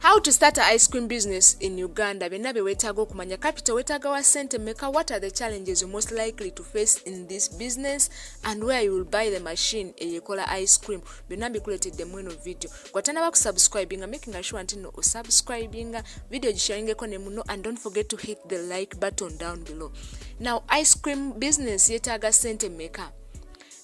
How to start a ice cream business in Uganda byonna bye weetaaga okumanya capital weetaaga wa sente meka what are the challenges you most likely to face in this business and where you will buy the machine eyekola ice cream byonna mbikuleetedde mweno video gwatanaba kusubscribinga making sure nti no osubscribinga video gisharingeko ne muno and don't forget to hit the like button down below now ice cream business yeetaaga sente meka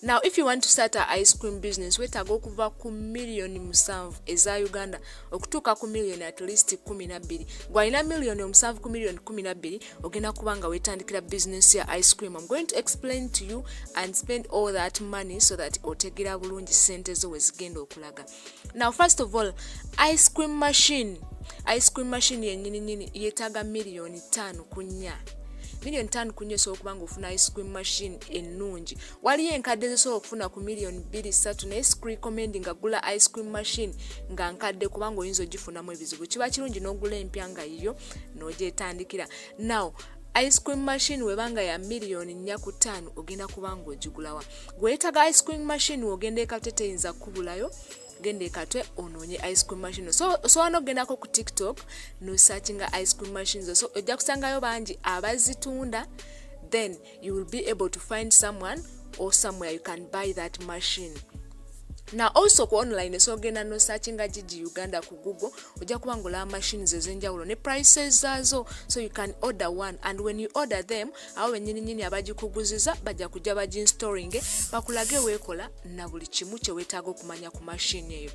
now if you want to start a ice cream business wetaaga okuva ku miliyoni musanvu eza uganda okutuuka ku miliyoni at least kumi nabbiri gwalina miliyoni omusanvu ku miliyoni kumi nabbiri ogenda kuba nga wetandikira business ya ice cream im going to explain to you and spend all that money so that otegera bulungi sente zo wezigenda okulaga now first of all ice cream machine ice cream machine yenyini nyini yetaaga miliyoni ttaano ku nnya miliyoni ttaano ku nnya osobola okuba nga ofuna ice cream machine ennungi waliyo enkadde zisobola okufuna ku miliyoni bbiri ssatu naye screcomendi nga gula ice cream machine nga nkadde kubanga oyinza ogifunamu ebizibu kiba kirungi n'ogula empya nga yiyo n'ogyetandikira now ice cream machine webanga ya miliyoni nnya ku ttaano ogenda kuba nga ogigulawa gweyetaga ice cream machine wogenda ekate teyinza kukubulayo genda ekatwe onoonye ice cream machine so osobola n'okugendako ku tiktok nosearchinga ice cream machines so ojja kusangayo bangi abazitunda then you will be able to find someone or somewhere you can buy that machine na also ku online esobola ogenda nosearchinga gigi uganda ku google ojja kuba ngaolaba machines ezenjawulo ne prices zaazo so you can order one and when you order them awo benyini nyini abagikuguziza bajja kujja baginstoringe bakulage weekola na buli kimu kyewetaaga okumanya ku mashini eyo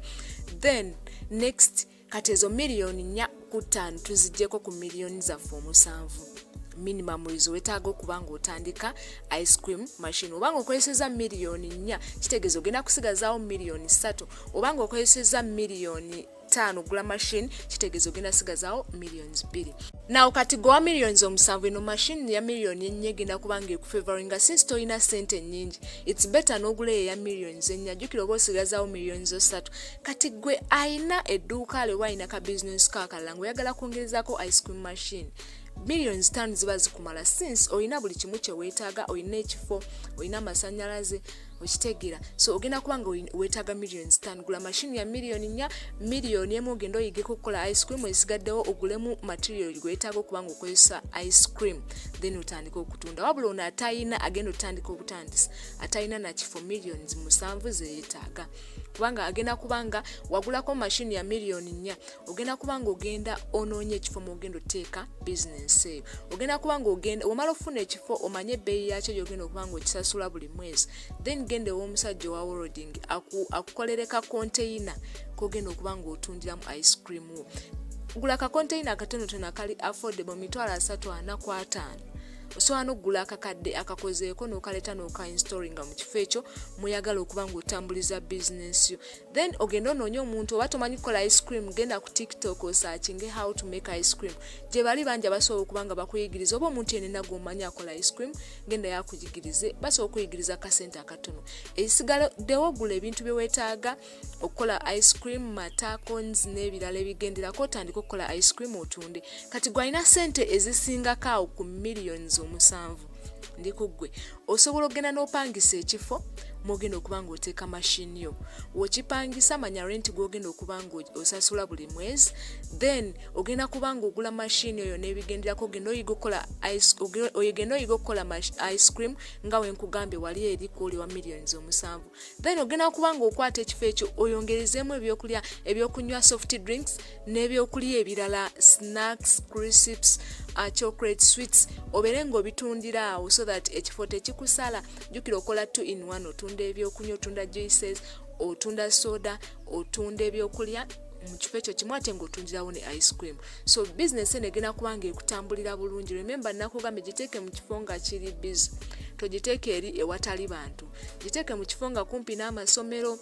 then next kati ezo miliyoni nya ku ttaano tuzigyeko ku miliyoni zaffe omusanvu minimum wage wetaaga okuba nga otandika ice cream machine obanga okozeseza miliyoni nnya kitegeeza ogenda kusigazaawo miliyoni ssatu obanga okozeseza miliyoni ttaano gula machine kitegeeza ogenda sigazaawo millions bbiri nawo kati gowa millions omusanvu eno machine ya million ennya egenda kubanga ekufevaringa since tolina sente ennyingi its better n'ogula eyo eya millions ennya jjukira oba osigazaawo millions osatu kati gwe alina edduuka lwe waalina ka business kakalala nga oyagala kwongerezaako ice cream machine million zitaano ziba zikumala since olina buli kimu kye weetaaga olina ekifo olina amasanyalaze okitegera so ogenda kuba nga wetaaga million stan gula mashini ya million nya million emu ogenda oyigeko okukola ice cream esigaddewo ogulemu material gwetaaga okuba nga okozesa ice cream then otandika okutunda wabula ono atayina agenda otandika okutandisa atayina nakifo millions musanvu zeyetaaga kubanga agenda kubanga wagulako mashini ya million nya ogenda kuba nga ogenda onoonya ekifo mwogenda oteeka bizinensi eyo ogenda kuba nga ogenda omala okufuna ekifo omanye ebbeeyi yakyo gyogenda okuba nga okisasula buli mwezi then genda ew'omusajja owa woroding akukolere ka konteyina kogenda okuba nga otundiramu ice cream wo gula ka konteyina akatonotono akali affordable mitwalo asatu ana ku ataano osobola n'okugula akakadde akakozeeko n'okaleeta n'okainstoringa mu kifo ekyo muyagala okuba ng'otambuliza bizinensi yo then ogenda onoonya omuntu oba tomanyi kukola ice cream genda ku tiktok osakinge how to make ice cream gye bali bangi abasobola okuba nga bakuyigiriza oba omuntu yenena gwomanyi akola ice cream genda yakuyigirize basobola okuyigiriza kasente akatono ekisigadewo gula ebintu byewetaaga okukola ice cream mata cons n'ebirala ebigenderako otandika okukola ice cream otunde kati gwalina sente ezisingako awo ku millions omusanvu ndi ku ggwe osobola okugenda n'opangisa ekifo mwogenda okuba nga oteeka mashini yo wokipangisa manya renti gwogenda okuba nga osasula buli mwezi then ogenda kuba nga ogula mashini oyo n'ebigenderako ogenda oyiga okukola oyogenda oyiga okukola ice cream nga wenkugambye wali eri kwoli wa millions omusanvu then ogenda okuba nga okwata ekifo ekyo oyongerezeemu ebyokulya ebyokunywa soft drinks n'ebyokulya ebirala snacks crisps uh, chocolate sweets obeere nga obitundira awo so that ekifo tekikusala jjukira okola two in one otunda ebyokunywa otunda juices otunda soda otunda ebyokulya mu kifo ekyo kimu ate ngaotundirawo ne ice cream so bizinesi eno egenda kuba nga ekutambulira bulungi rememba nakugambye giteeke mu kifo nga kiri bizi togiteeke eri ewatali bantu giteeke mu kifo nga kumpi n'amasomero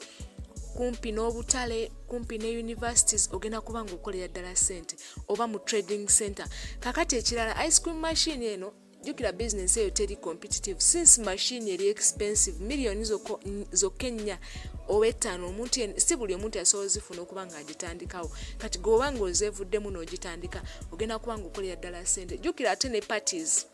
kumpi n'obutale kumpi ne universities ogenda kuba nga okolera ddala sente oba mu trading center kakati ekirala ice cream machine eno jukira bizinesi eyo teri competitive since machine eri expensive millioni zokka ennya oba ettaano omuntu si buli omuntu yasobola zifuna okuba nga agitandikawo kati gweoba nga ozevuddemu n'ogitandika ogenda kuba nga okolera ddala sente jjukira ate ne parties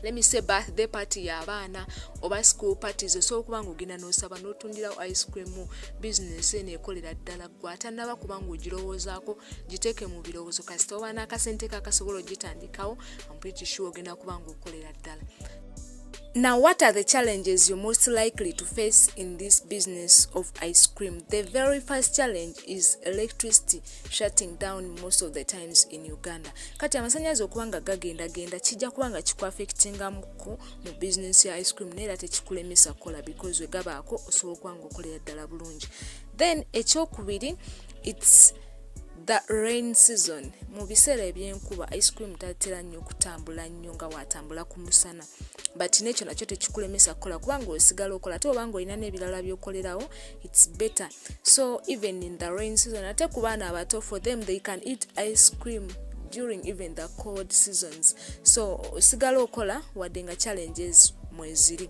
let me say birthday party yabaana oba school parties osobola okuba nga ogenda nosaba notundirawo ice cream business eno ekolera ddala gwe atanaba kuba nga ogirowoozaako giteeke mu birowoozo kasita oba n'akasente kakasobola ogitandikawo ampiti sure ogenda kuba nga okolera ddala Now, what are the challenges you're most likely to face in this business of ice cream? The very first challenge is electricity shutting down most of the times in Uganda. Kati amasanyalaze okuba nga gagenda genda kijja kuba nga kikuaffectinga muku mu business ya ice cream naye era tekikulemesa kukola because we gabaako osobola okuba nga okolera ddala bulungi. Then ekyokubiri it's The rain season mu biseera ebyenkuba ice cream tatera nnyo kutambula nnyo nga watambula ku musana but nekyo nakyo tekikulemesa kukola kubanga osigala okola ate obanga olina n'ebirala byokolerawo its better so even in the rain season ate ku baana abato for them they can eat ice cream during even the cold seasons so osigala okola wadde nga challenges mweziri